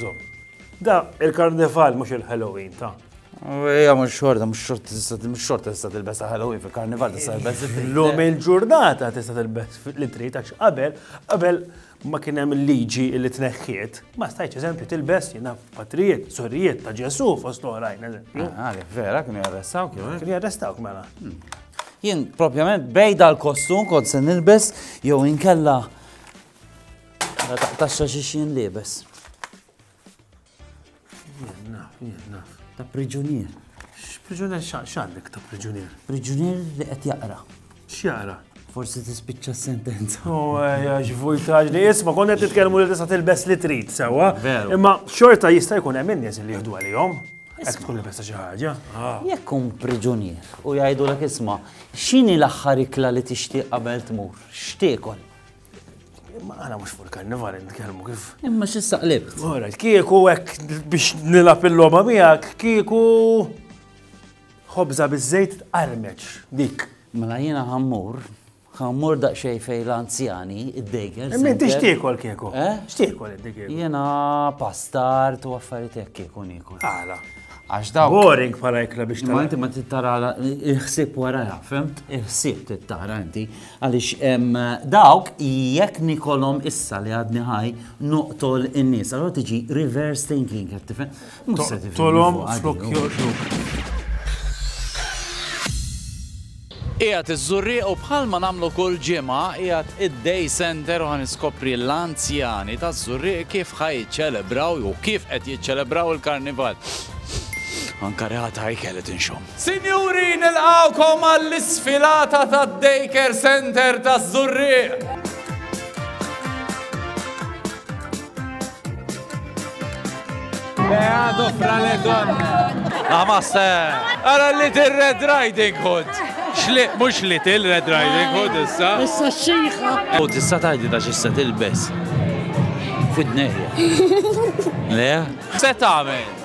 Zob. Da, il-karnival mux il-Halloween, ta' Ija mux xorta, mux xorta, mux xorta tista tilbes ta' Halloween fil-karnival, tista tilbes li trid. L-lum il-ġurnata tista tilbes li trid, għax qabel, qabel ma kien hemm liġi li tneħħiet, ma stajċ eżempju tilbes jina patrijiet, sorijiet ta' Ġesu fost oħrajn, eżempju. Ah, għalek, vera, kienu jarrestaw kienu. Eh? Kienu jarrestaw mela. Hmm. Jien propjament bejda l-kostum kont se nilbes jew inkella Għana taqtaxxa xie xien libes. Jenna, jenna. Ta' priġunier. Priġunier xandek ta' priġunier? Priġunier li qed jaqra. X'jaqra? Forsi tispiċċa sentenza. Oh, ġvujtaġ li isma, konnet titkellmu li tista' tilbes li trid sewwa. Imma xorta jista' jkun hemm in-nies li jieħdu għalihom. Jekk tkun libes xi ħaġa. Ah. Jekk kun priġunier u jgħidulek isma' x'inhi l-aħħar ikla li tixtieq qabel tmur? X'tiekol? Imma għana mux fuq il-karnival nitkellmu kif. Imma xi saqlib. Ora, kieku hekk biex nilgħab il-logħba miegħek, kieku ħobża biż-żejt tqarmeġ dik. Mela jiena ħammur, ħammur daqsxejn fejn l-anzjani, id-dejgers. Imma inti x'tiekol kieku? Eh? X'tiekol inti kieku? Jiena pastar tu affarijiet hekk kieku niekol. Għala. Għax daw. Boring pala ikla biex tara. Inti ma tittara il-ħsieb wara, fimt? Il-ħsieb tittara inti. Għaliex dawk, jekk nikolhom issa li għadni ħaj, noqtol in-nies. Allura tiġi reverse thinking, qed tifhem? Mhux se tifhem. Tolhom flok joqtlu. Qiegħed iż-żurrieq u bħalma nagħmlu kull ġimgħa qiegħed id-day center u ħa niskopri l-anzjani taż-żurrieq kif ħa jiċċelebraw u kif qed jiċċelebraw il-karnival. Anka reħat ħajkel qed inxomm. Sinjuri nilqgħukom għall-isfilata tad-Daycare Centre taż-Żurrieq! Beato fra le donne. La massa. Ara li red riding hood. Xli, mux li til Red Riding Hood issa. Issa xieħa. U tista tajdi ta' xissa tilbes. Fidneħja. Le? Se tamen.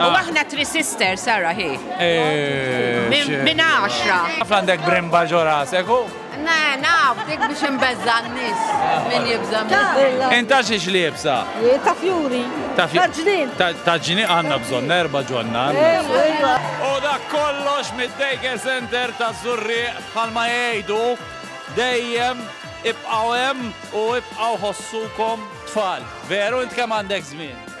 U ah. aħna tri sister, Sara, hi. Eh, Min għaxra. Għaf għandek brimba ġora, seku? Na, na, dik biex imbezza n-nis. Min jibza minn. Inta xiex li jibza? Eh, ta' fjuri. Ta' fjuri. Ta' ġini għanna bżon, nerba ġonna. Eh, u da' kollox mid-daycare center ta' zurri bħalma jgħidu dejjem ibqaw hemm u ibqaw ħossukom tfal. Veru int kemm għandek żmien?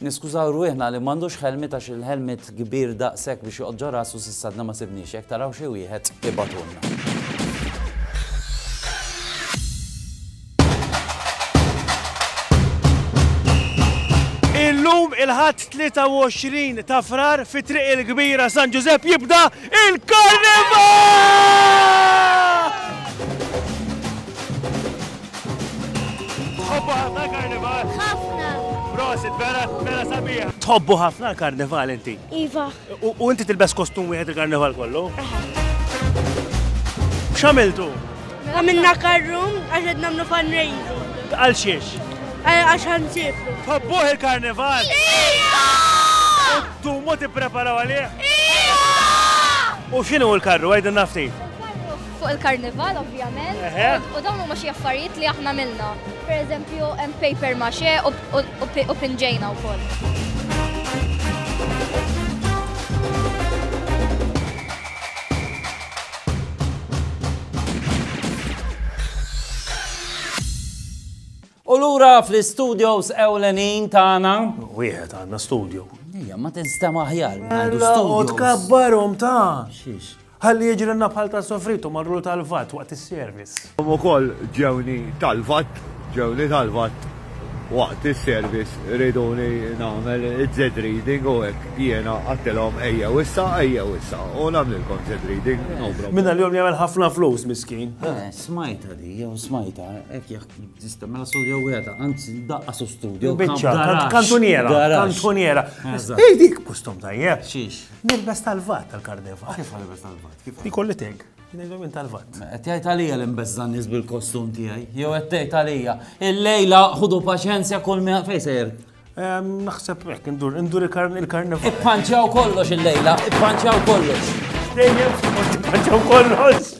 Niskużaw rwieħna li m'għandux ħelmiet għax il-ħelmiet kbir daqshekk biex joqgħod ġo rasu s'issa għadna ma sibniex, jekk taraw xi wieħed ibgħatulna. Illum il-Ħadd 23 ta' Frar fi Triq il-Kbira San Ġużepp jibda il-Karnival! Tħobbu ħafna l-karnival? Ħafna. Prosit, vera, vera sabiħ. Tħobbu ħafna l-karnival inti? Iva. U inti tilbes kostum wieħed il-karnival kollu? X'għamiltu? Għamilna karrum għax qed nagħmlu fundraising. Għal xiex? Għax ħansifru. Tħobbuh il-karnival? Iva! Tumu tippreparaw għalih? Iva! U x'inhu l-karru għajdin naftit? Fuq il-karnival, ovvjament. U dawn huma xi affarijiet li aħna milna. Per eżempju, hemm paper mache u pinġejna wkoll. U lura fl-studios ewlenin tagħna. Wieħed għandna studio. Ija, ma tinstema aħjar. Għandu studio. Tkabbarhom ta'. Xiex. Ħalli jiġrilna bħal ta' sofrit u marrulu tal-vatt waqt is-service. Huma wkoll ġewni tal-vatt, ġewni tal-vatt waqt is-service riduni nagħmel iż-Zed reading u hekk jiena għadtilhom ejjew issa, ejjew issa u nagħmlilkom Zed reading no problem. Min għalihom jagħmel ħafna flus miskin. Eh, smajtha di, jew smajtha, hekk jekk tista' mela studjo wieħed, anzi daqqa su studjo. Biċċa, kantuniera, kantuniera. Dik kustom tajjeb. Xiex. Nilbes tal-vat tal-karnival. Kif nilbes tal-vat? Kif? Ikolli teg. Nejdu minn tal-vat. Qed jgħid għalija li mbeżżan nies bil-kostum tiegħi. Jew qed tgħid għalija. Il-lejla ħudu paċenzja kull mi fejn sejr. Naħseb hekk indur indur il-karnival. Ippanċjaw kollox il-lejla, ippanċjaw kollox. Dejjem ippanċjaw kollox.